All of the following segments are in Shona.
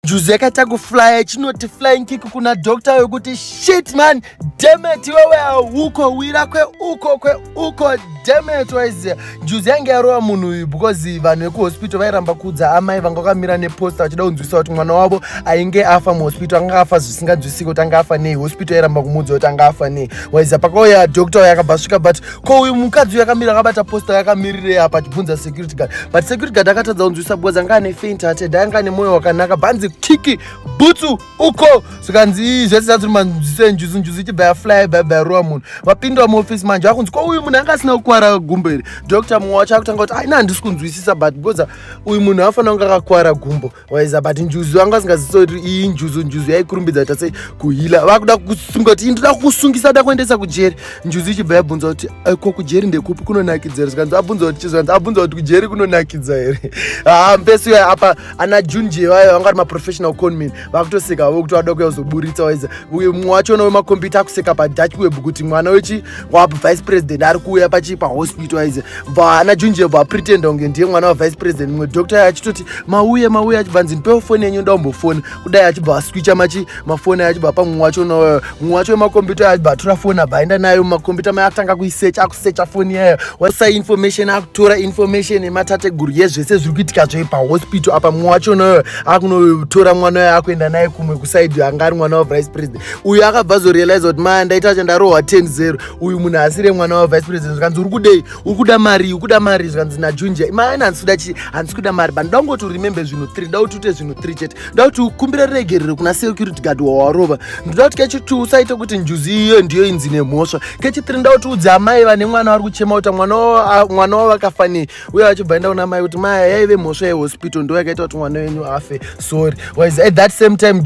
Juzi yakaita kuflya chinoti flying kick kuna doctor wekuti shit man demet iwewe hauko wira kweuko kweuko demet waiziva juzi yange yarova munhu uyu because vanhu vekuhospital vairamba kuudza amai vanga vakamira neposta vachida kunzwisa kuti mwana wavo ainge afa muhospital anga afa zvisinganzwisiki kuti anga afa nei hospital yairamba kumuudza kuti anga afa nei waiziva pakauya doctor uyo akabva svika but ko uyu mukadzi uyu akamira akabata posta yakamirirei apa achibvunza security guard but security guard akatadza kunzwisa because anga ane faint hearted anga ane mwoyo wakanaka bhanzi kiki bhutsu uko zvikanzi ii zvese zazviri manzwiso enjuzu njuzu ichibva yafly baiba yarowa munhu vapindwa muofisi manje akunzi ko uyu munhu anga asina kukwara gumbo here doctor mumwe wacho akutanga kuti aina handisi kunzwisisa but because uyu munhu afanira kunge akakwara gumbo waiza but njuzu vanga vasingazisoti iyi njuzu njuzu yaikurumbidza kuita sei kuhila vakuda kusunga kuti indoda kukusungisa kuda kuendesa kujeri njuzu ichibva yabvunza kuti eh, ko kujeri ndekupi kunonakidza here zvikanzi abvunza kuti chizvikanzi abvunza kuti kujeri kunonakidza here haa ah, mfesi uya apa ana junje vayo vanga vari maprofessional conmin vakutoseka vavo kuti vada kuya kuzoburitsa waiza uye mumwe wacho unowe makombiyuta akuseka padach web kuti mwana wechi wabva vice president ari kuuya pachii pahospital aize bva ana junje bva apretenda kunge ndiye mwana wavice president mumwe doctor ayo achitoti mauye mauye achibva nzi ndipewo foni yenyu ndaombofoni kudai achibva aswicha machi mafoni ayo achibva pamumwe wacho nayo mumwe wacho wemakombiyuta ayo achibva atora foni abva aenda nayo mumakombiyuta maye atanga kuisecha akusecha foni yayo wasa information akutora information yematateguru yezvese zviri kuitika zvoye pahospital apa mumwe wacho nayo akunotora mwana wayo akuenda naye kumwe kusaidi anga ari mwana wavice president uyu akabva azorealiza kuti maya ndaita acha ndarohwa 10 zero uyu munhu asire mwana wavice president zvikanzi uri kudei uri kuda mari uri kuda mari zvikanzi najunja maya handisi kuda chii handisi kuda mari but ndoda kungoti uremembe zvinhu 3 ndoda kuti ute zvinhu 3 chete ndoda kuti ukumbire regerero kuna security guard wawarova ndoda kuti kechi 2 usaite kuti njuzi iyo ndiyo inzi nemhosva kechi 3 ndoda kuti udze amai vane mwana vari kuchema kuti mwana wavo akafanei uye achibva enda kuna mai kuti maya yaive mhosva yehospital ndo yakaita kuti mwana wenyu afe sorry wise at that same time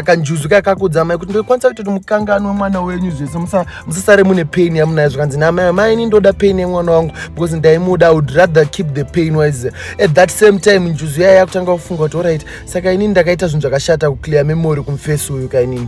kanjuzu kaya kakudza mai kuti ndokwanisa kuita kuti mukangani wemwana wenyu zvese musasare mune pain yamunayo zvikanzi namai mai ini ndoda pain yemwana wangu because ndaimuda would rather keep the pain wise at that same time njuzu yaya yakutanga kufunga kuti orit saka inini ndakaita zvinhu zvakashata kuclear memory kumfesi uyu kainini